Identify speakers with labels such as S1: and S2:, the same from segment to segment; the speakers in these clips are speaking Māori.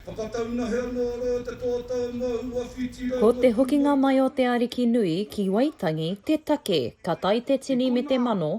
S1: Whakataunahea anō roa te kōtau mō ua whiti rau Ko te hokinga mai o te Ariki nui ki Waitangi te take ka tae te tini me te mano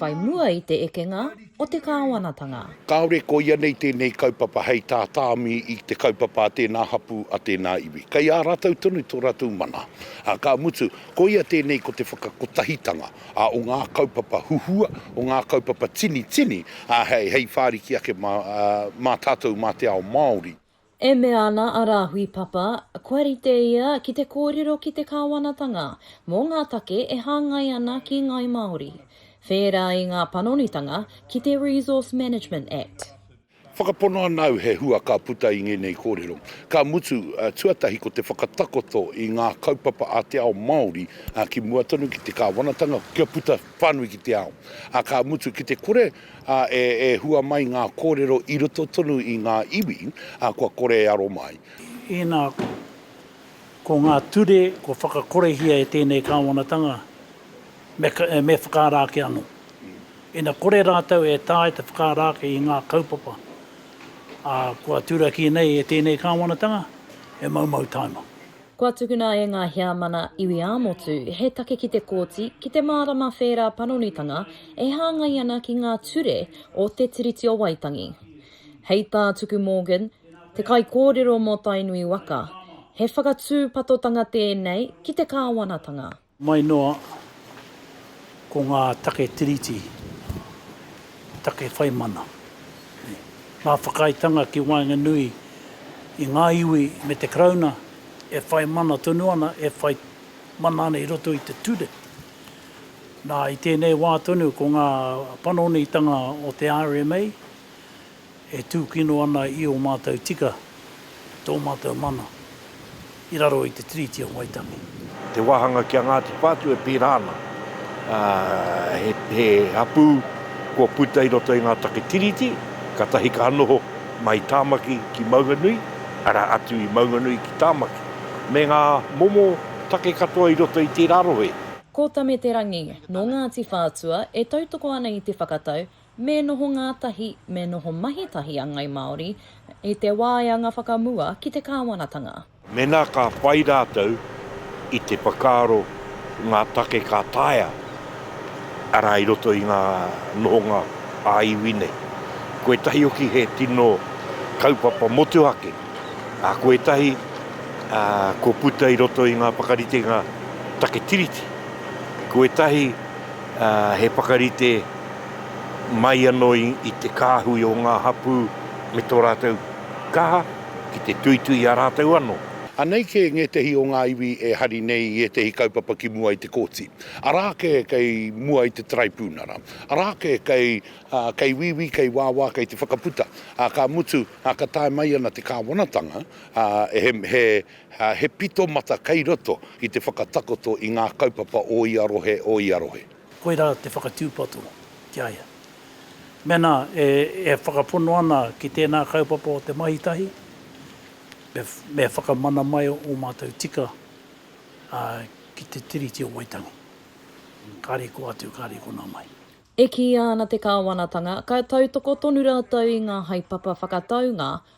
S1: whai mua i te ekenga o te Kāwanatanga. Kāore ko ia
S2: nei tēnei kaupapa hei tā tāmi i te kaupapa a tēnā hapū, a tēnā iwi. Kei a rātou tonu tō rātou mana. Ā, ka mutu, koia tēnei ko te whakakotahitanga. ā, o ngā kaupapa huhua, o ngā kaupapa tinitini, ā, hei, hei whāriki ake mā, ā, mā tātou, mā te ao Māori. E mea ana
S1: a Rāhui Papa, kua rite ia ki te kōrero ki te Kāwanatanga mō ngā take e hāngai ana ki Ngāi Māori, whērā i ngā panonitanga ki te Resource Management Act. Whakapono ana
S2: au he hua ka puta i ngēnei kōrero, ka mutu, tuatahi ko te whakatakoto i ngā kaupapa a te ao Māori ki mua tonu ki te kāwanatanga kia puta whānui ki te ao, ā, ka mutu ki te kore e hua mai ngā kōrero i roto tonu i ngā iwi kua kore e aro mai. Inā,
S3: ko ngā ture kua whakakorehia e tēnei kāwanatanga me whakaara ake anō. Ina kore rātou e taea te whakaara ake i ngā kaupapa, ā, kua turaki nei e tēnei kāwanatanga, he maumau taima. Kua tukuna
S1: e ngā Heamana Iwi ā-Motu he take ki te Kōti ki te mārama whērā panonitanga e hāngai ana ki ngā ture o Te Tiriti o Waitangi. Hei tā Tuku Morgan, te kaikōrero mō Tainui waka, he whakatūpatotanga tēnei ki te kāwanatanga. Mai noa,
S3: ko ngā take tiriti, take whai mana, ngā whakaaetanga ki waenganui i ngā iwi me te Karauna e whai mana tonu ana, e whai mana ana i roto i te ture. Nā, i tēnei wā tonu ko ngā panonitanga o te rma, e tūkino ana i ō mātou tika me tō mātou mana i raro i te Tiriti o Waitangi. Te wāhanga ki
S4: a Ngāti Whātua e pērā ana, he hapū kua puta i roto i ngā take Tiriti, kātahi ka noho mai Tāmaki ki Maunganui, arā atu i Maunganui ki Tāmaki, me ngā momo take katoa i roto i tērā rohe. Ko Tameterangi,
S1: nō Ngāti Whātua, e tautoko ana i te whakatau, Me noho ngātahi, me noho mahi tahi a Ngai Māori i te wāeanga whakamua ki te kāwanatanga. Mēnā ka
S4: whai rātou i te whakaaro i ngā take ka taea, arā, i roto i ngā nohonga ā-iwi nei. Ko ētahi hoki he tino kaupapa motuhake, ā, ko ētahi kua puta i roto i ngā whakaritenga take Tiriti. Ko ētahi he whakarite. mai anō i te kāhui o ngā hapū me tō rātou kaha ki te tuitui i a rātou anō. Anei kē ngētehi
S2: o ngā iwi e hari nei i ētehi kaupapa ki mua i te kōti. Arā kē kei mua i te Taraipiunara. Arā kē kei, kei wīwī, kei wāwā, kei te whakaputa. Ā, ka mutu, ka tae mai ana te Kāwanatanga, ā, he, he, he pito mata kei roto ki te whakatakoto i ngā kaupapa o ia rohe, o ia rohe. Koirā
S3: te whakatūpato ki a ia. Mēnā e whakapono ana ki tēnā kaupapa o te mahi tahi, me whakamana mai ō mātou tika ki te Tiriti o Waitangi. Kāre kō atu, kāre konā mai. E kīia ana
S1: te Kāwanatanga, ka tautoko tonu rātou i ngā haepapa whakataunga